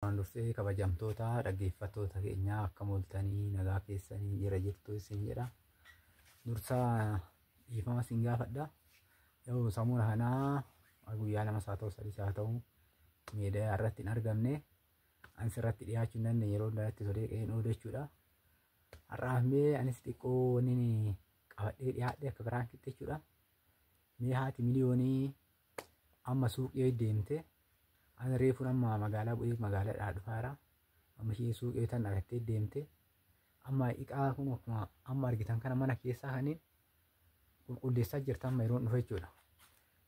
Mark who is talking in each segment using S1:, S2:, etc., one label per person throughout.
S1: Waan dursee kabajamtoota dhaggeeffattoota keenyaa akka mooltanii nagaa keessanii jira jirtu isin jedha. Dursaa dhiifama isin gaafadha. Yoo samuuna kanaa guyyaa lama isaa ta'u sadii isaa ta'u miidiyaa irratti hin argamne anis irratti dhiyaachuu hin dandeenye yeroo hundaatti solee qe'een oolu jechuudha. Har'aaf mee anis xiqqoo wanni qabadhee dhiyaadhe akka biraan kitti jechuudha. Mee haati miliyoonii Amma suuqii deemte ani reefuun amma magaalaa bu'ee magaalaadhaa dhufaara. Amma isheen suuqii tan argattee deemte. Amma iqaa kun akkuma amma argitan kana mana keessaa kaniin qulqulleessaa jirta amma yeroon dhufe jechuudha.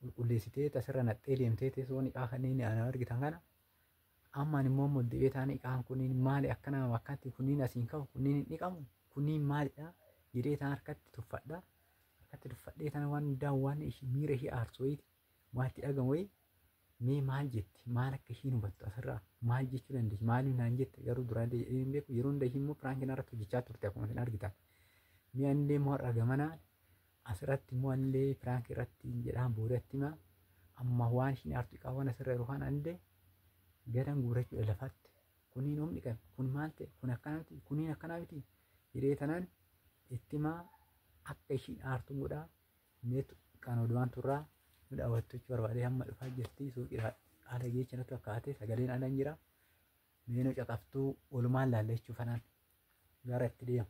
S1: Qulqulleessitee tasirra naqxee deemtee teessoon iqaa kaniin ana argitan kana. Amma ani immoo deebi'ee taane iqaan kuniin maali akkana akkanatti kuniin asiin ka'u kuniin hin dhiqamu kuniin maalidha jedhee taan harkatti tuffadha. akkatti duffadhee tana waan hundaa waan ishi- miira ishii aarsu wayiiti waan itti dhagamu wayii mee maal jetti maal akka ishiin hubattu asirraa maal jechuu dandeessi maaliif naan jette garuu duraan illee jedhee hin beeku yeroo hunda ishii immoo piraanki narratti hojjechaa turte akkuma isin argitan mee anillee immoo har'a gamanaa asirratti immoo anillee piraanki irratti hin jedhaan boodatti himaa amma waan ishiin aartu qaban asirra yeroo kaan anillee garan guurachuu lafaatti Kunii nuum dhiqan kun maal ta'e kun akkana miti kuniin akkanaa miti jedhee tanaan itti himaa akka ishiin aartuun godhaa meetu kan odumaan turraa nu daawwattu jechuu barbaadee hamma dhufaa jirti suuqiidhaa haala geecha natti fakkaate sagaleen ala hin jira meenoo caqaftuu walumaan laalla jechuu fanaan gara itti deema.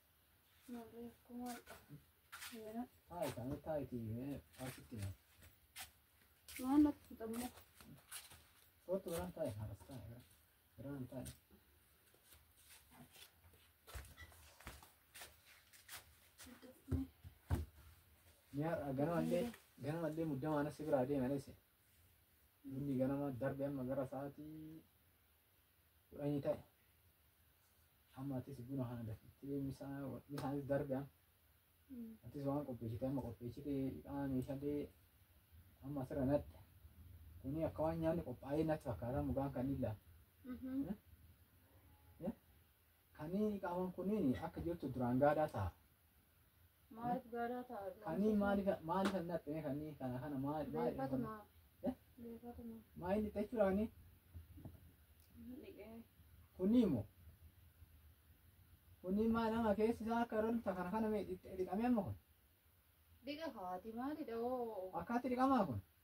S1: Ganamallee ganamallee muddamaana si biraa deemanis bunni ganama darbe amma gara sa'aatii Kudhanii ta'e. Amma atis buna kana dafittee misaa misaanis darbe amma. Atis waan qopheessite amma qopheessite hidhaa meeshaalee amma asirra nadhe. Kuni akka waan nyaanni qophaa'ee natti fakkaata mugaan kan illaa. Kani qaaman kuni akka jirtu duraan gaadaa ta'a.
S2: Maaliif gaadaa ta'a? Kani maaliif
S1: maaliif hin dhaphine kani kana kana maal maal Beekatuma. Eh? Beekatuma. maal hin dhiqxee jiraani Dhiqee. kuni immoo kuni maal nama keessi isaa akka irra dhufta kana kana mee dhiqxee dhiqamee amma kun Dhiqa
S2: kaati maalidha hoo? akkaatti dhiqamaa kun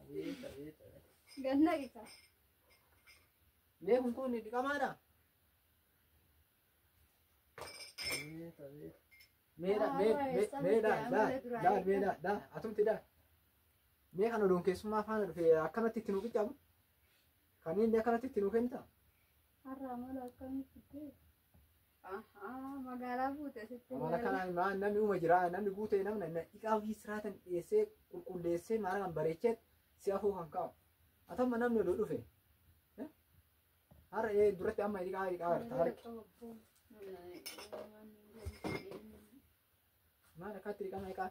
S2: Abeet abeet abeet. Ganna
S1: qisa. Mee kun kun dhiqamaadha? Abeet abeet. Mee dha mee mee mee dha dha dha mee dha dha atumti dha. Mee kan odoon keessummaa faana dhufe akkanatti itti nu qiccamu? Kan inni akkanatti itti nu kennita? Har'a amala
S2: akkamitti ta'e? Magaalaa buute sitti Amala kanaan maa namni
S1: uma jira namni guutee namna na dhiqaa ofii siraatan dhiyeessee qulqulleessee maara kan bareechee si afoo kan kaa'u. Atamma namni odoo dhufe. eh, Har'a ee duratti amma dhiqaa dhiqaa jirta harki. Maal akkaatti dhiqama dhiqaa?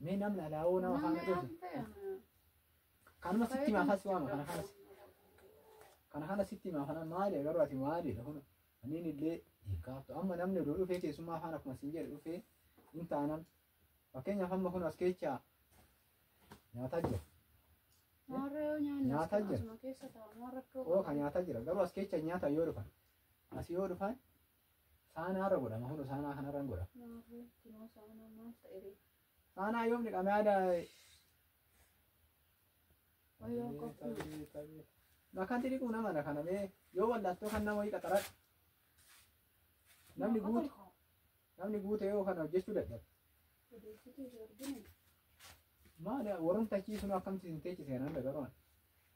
S1: Mee namni alaawoo nama faana dhufu. Kanuma sitti himaa fasi waama kana kanas. Kana kanas sitti himaa kana maali garuu ati maali kun aniin illee hin kaaftu. Amma namni oduu dhufee keessummaa faana akkuma siin jedhe dhufee hin taanan. Fakkeenyaaf amma kun as keechaa nyaataa jira. Nyaataa jira. Oo kan nyaataa jira garuu as keechaa nyaata yoo dhufan. As yoo dhufan Saanaa irra godhama kun saanaa kana irra hin godha. Saanaa yoom dhiqame yaada. Bakkanti dhiquu nama dha kana bee yoo wallattoo kan nama wayii qaxaradha. Namni guute namni guute yoo kana hojjechuu dadhabe. Maali warrumtachiisun akkamti hin teechise nan dagaroon.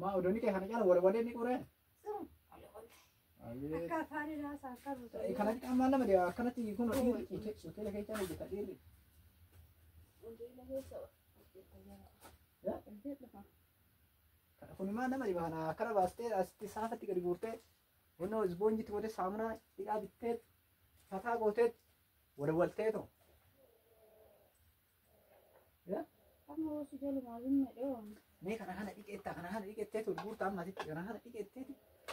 S2: Maa
S1: odonni kee kana cala wal walee ni qoree. Akka afaan irraa isaa akka buutu. Kanatti qaamaan lama dee akkanatti kun dhiirri hoteela keessaa hojjeta dhiirri. Kun maa nama dhiba kana akkana baastee asitti saafatti gadi guurtee honnoo isboonjitti godhee saamunaa dhiqaa bittee fataa gootee wal waltee too. Amma hoosii jala maaliin madhee waan. Mee kana kana dhiqeetta kana kana dhiqeettee tun guurta amma asitti kana kana dhiqeettee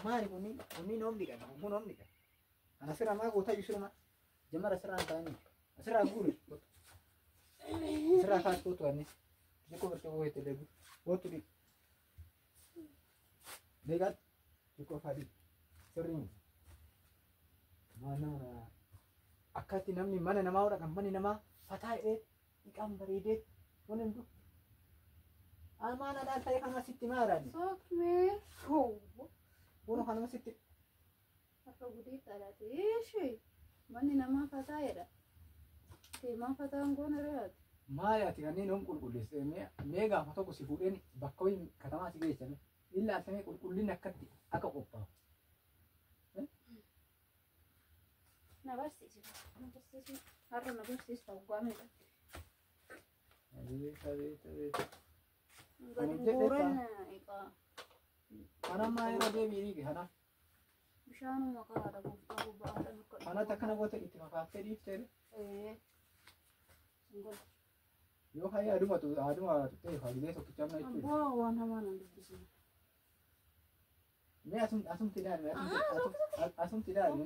S1: maali kunni kunni noom dhiqan kun noom dhiqan. Kana sirra maa goota iyyuu sirra jamara sirra hin taane sirra guuri sirra kaas kootu wanni xiqqoo birtoo koo itti deebi kootu dhiqu. Meeqatti? Xiqqoo fadii. Sirrii miti. Maal nama na akkatti namni mana namaa hodha kan manni namaa fataa hidhee dhiqaan bareedee waan hin duk. Amaan adaan ta'e kanuma sitti maaraani. Soofmee.
S2: Boona kanuma
S1: sitti. Akka
S2: gudii kadhate. Ishi manni namaa fataa jedha. Deemaa fataan goona re'aati. Maali ati kanneen
S1: yoom qulqulleessite? Mee- Mee gaafa tokko si fuudheen bakka wayii katamaa si geessame. Illaa samee qulqullinni akkatti akka qophaa'u. Na
S2: barsiisi. Na barsiisi. Har'a na barsiista waggaa meeqa. Beeta beeta beeta. Gadi Amantee guuran egaa.
S1: Kanammaa irra deebi'ii kanaaf. Bishaanuma
S2: kanaadha gooftaa koo ba'aadhaan akka dhufu. Kanatti akkana goota itti
S1: makaaftee dhiiftee Ee. Hin godhu. yoo ka'ee aduma tu aduma tuttee faa gizee tokkicha amma jechuudha. Abbaa waan hamaa nan
S2: dubbisina.
S1: Mee asum asumti ilaalme asumti ilaalme.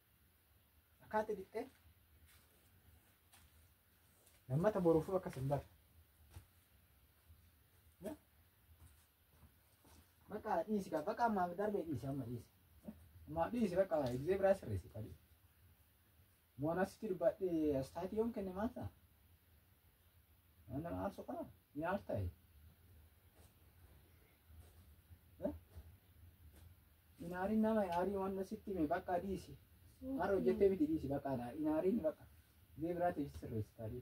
S1: Akkaatti dhiqxee lammata boruufuu akkas hin barre. Bakka dhiisi kaa bakka ammaaf darbee dhiisi amma dhiisi. Ammaaf dhiisi bakka egzee biraa sirreessi qalii. Waan asitti dubbadhee astaatii yoom kenne maal ta'a? Waan nama aarsu qaba ni aartaa'e. Inaariin nama inaarii waan sitti hime bakka dhiisi. Har'a hojjettee miti dhiisi bakka anaa inaariin bakka. Biyya biraatiif sirreessi taadee.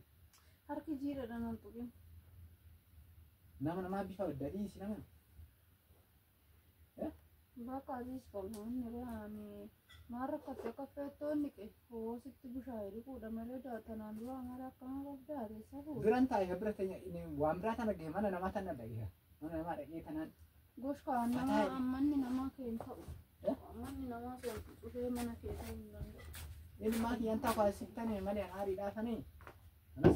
S1: Harki jiidhadha
S2: nan tuqin.
S1: Nama namaa bifa adda dhiisi nama. Bakka
S2: dhiisi qabna inni baane. Maal rakkatte akka feettoonni qe hoo sitti bushaa'e dhiquudha malee tanaan dura amara akkana qabda adeessa fuudha. Biran taa'e bira teenya
S1: waan biraa tana ga'e mana namaa tana dhagee mana namaa dhagee tanaan. Gosh kaan nama
S2: ammanni namaa keen ta'u. Ammanni namaa keen dhufee mana kee ta'uu hin danda'u. Inni maatii
S1: yantaa faasiftanee malee haarii dhaafanii. Anas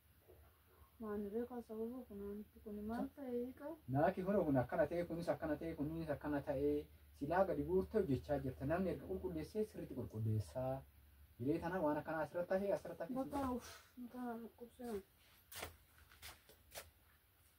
S2: Maani beekaa sababa funaanitti kuni maal ta'e hiika? Naaki hora kun akkana
S1: ta'ee kunis akkana ta'ee kunis akkana ta'ee silaa gadi guurtee hojjechaa jirta namni erga qulqulleessee sirriitti qulqulleessaa hiree tana waan akkanaa asirratti hafee asirratti hafee Bakka uff mataa
S2: dhukkubsina.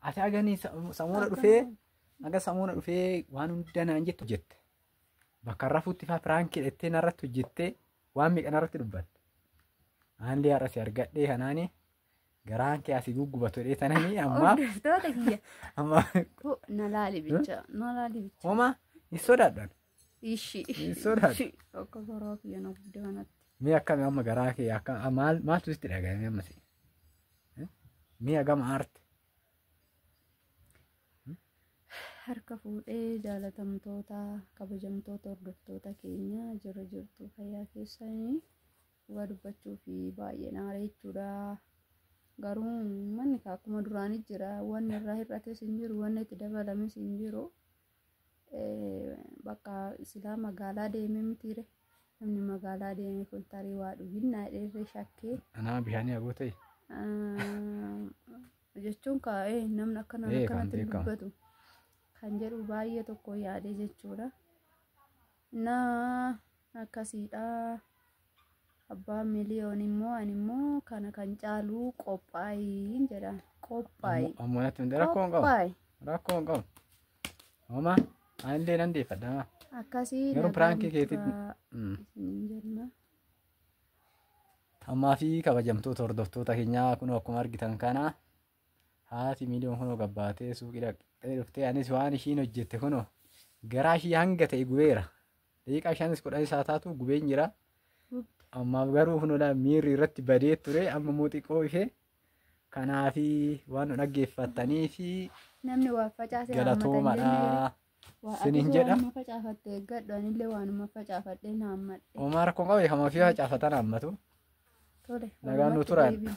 S1: Ati aganii samuuna dhufee aga samuuna dhufee waan hunda naan jettu jette. Bakka rafuutti faa piraankii dhettee narratti hojjettee waan meeqa narratti dubbatte. Aanlee har'a si argadhee kanaani garaan kee asii guggubatu dhee tananii ammaa Hordoftoota kiyya.
S2: ammaa Ko na laali bicha. Na laali bicha. homa
S1: hin sodaadhan. Ishi. Hin
S2: sodaatu.
S1: Ishi. Akka garaa kiyya
S2: na guddaa kanatti. Mee akkami amma garaa
S1: kee akka a- maal maaltu sitti dhaga'ame amma si? Eh? Mee hagam aarte?
S2: Harka fuudhee jaalatamtoota kabajamtoota hordoftoota keenya jirra jirtu fayyaa keessanii dhugaa dubbachuu fi baay'ee naaree jechuudha. Garuu manni kaa akkuma duraanii jira wanni irraa hir'ates hin jiru wanni itti dabalames hin jiru. bakka silaa magaalaa deemee mitiire namni magaalaa deeme kun tarii waa dhuginnaa dheerree shakkee Anaa bishaanii agoo
S1: ta'e.
S2: jechuun kaa'ee namni akkana Ee, kan akkanatti beekamu. dubbatu kan jedhu baay'ee tokko yaadee jechuudha. Naa akkasiidha abbaan miliyoon immoo ani immoo kana kan caalu qophaa'iin jedha qophaa'i Ammoo natti hundee rakkoo
S1: hin qabu. qophaa'i Rakkoo hin qabu. Homaa anillee nan deeffadha. maa. akkasii Garuu nagaan
S2: piraankii keetii-
S1: turaa Mm. isiniin jenna. Ammaa fi kabajamtoota hordoftoota keenyaa kunoo akkuma argitan kana haati miiliyoon kunoo gabbaatee suuqii dhaqxee dhuftee anis waan ishiin hojjette kunoo garaa ishii hanga ta'e gubeera. Daqiiqaa shanis kudhan isaa taatu gubeen jira. Ammaaf garuu kunoo laa miirri irratti badee ture amma immoo xiqqoo ishee kanaafi waan nu dhaggeeffattanii fi Namni waa
S2: facaase galatoomadha.
S1: Sinin jedha. Waanuma facaafatte eeggadhu
S2: anillee waanuma facaafadhee na hammadhe. Omaa
S1: rakkoon qabu kan ofii facaafatan hammatu. Tole. Nagaan nu walumatti turan. deebiin.